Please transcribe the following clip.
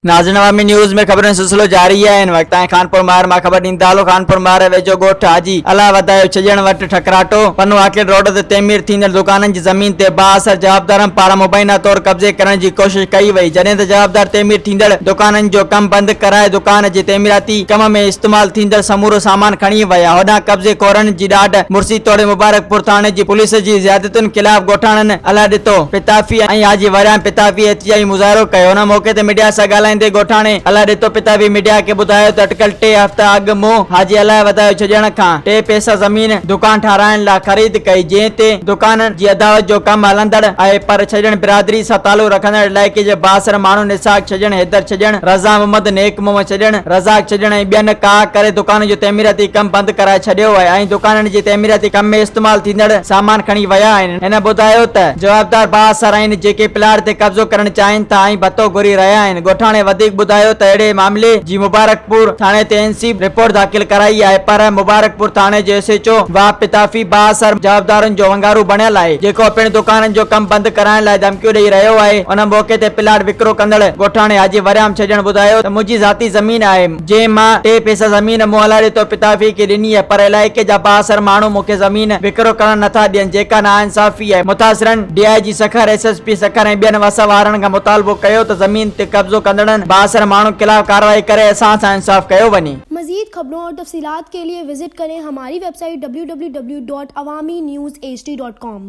ناظرين عوامي نيوز ۾ خبرن سلسلو جاري آهي ان وقت تائين خانپور مار مان خبر ڏيندي دالو خانپور مار ويجهو ڳوٺ حاجي الله وڌايو ڇڄڻ وٽ ٺڪراٽو پنو آڪيل روڊ تي تعمير ٿيندڙ دڪانن جي زمين تي بااثر جوابدارن پاران مبينا طور قبضي ڪرڻ جي ڪوشش ڪئي وئي جڏهن ته جوابدار تعمير ٿيندڙ دڪانن جو ڪم بند ڪرائي دڪان جي تعميراتي ڪم ۾ استعمال ٿيندڙ سمورو سامان کڻي ويا، هوڏانهن قبضي خورن جي ڏاڍ مرسي توڙي مبارڪپور ٿاڻي جي پوليس جي زيادتين خلاف ڳوٺاڻن الاڏتو پتافي ۽ حاجي وريان پتافي احتجاجي مظاهرو ڪيو، ان موقعي تي ميڊيا سان ڳالهائيندي ڳوٺاڻي الاڏتو پتافي ميڊيا کي ٻڌايو ته اٽڪل ٽي هفتا اڳ مون حاجي الاهي وڌايو ڇڄڻ کان ٽي پئسا زمين دڪان ٺاهرائڻ لاء خريد ڪئي جنهن تي دڪان جي اضاوت جو ڪم هلندڙ آهي پر ڇڄڻ برادري سان تعلق رکندڙ علائقي جي بااثر ماڻهن اسحاق ڇڄڻ، حيدر ڇڄڻ، رضا محمد، نيڪ محمد ڇڏڻ، رزاق ڇڏڻ ۽ ٻين ڪاء ڪري دڪانن جو تعميراتي ڪم بند ڪرائي ڇڏيو آهي ۽ دڪانن جي تعميراتي ڪم ۾ استعمال ٿيندڙ سامان کڻي ويا آهن. هن ٻڌايو ته. جوابدار بااثر آهن جيڪي پلاٽ تي قبضو ڪرڻ چاهين ٿا ۽ ڀتو گهري رهيا آهن. ڳوٺاڻي وڌيڪ ٻڌايو ته اهڙي معاملي جي مبارڪپور ٿاڻي تي اين سي رپورٽ داخل ڪرائي آهي پر مبارڪپور ٿاڻي جو ايس ايڇ او واهه پتافي بااثر جوابدارن جو ونگارو بڻيل آهي جيڪو پڻ دڪانن جو ڪم بند ڪرائڻ لاء ڌمڪيون ڏئي رهيو آهي ان موقعي تي پلاٽ وڪرو ڪندڙ ڳوٺاڻي حاجي وريام ته ڄڻ ٻڌايو ته منهنجي ذاتي زمين آهي، جنهن مان ٽي پئسا زمين مون الاڙي طور پتافيء کي ڏني آهي، پر علائقي جا بااثر ماڻهو مون کي زمين وڪرو ڪرڻ نه ٿا ڏين، جيڪا ناانصافي آهي. متاثرن D I G Sukkur, S S P Sukkur ۽ ٻين وس وارن کان مطالبو ڪيو ته زمين تي قبضو ڪندڙن بااثر ماڻهن خلاف ڪارروائي ڪري اسان سان انصاف ڪيو وڃي. مزيد خبرون اور تفصيلات کے ليے وزٽ ڪرين ھماري ويب سائيٽ www.awaminews hd.com.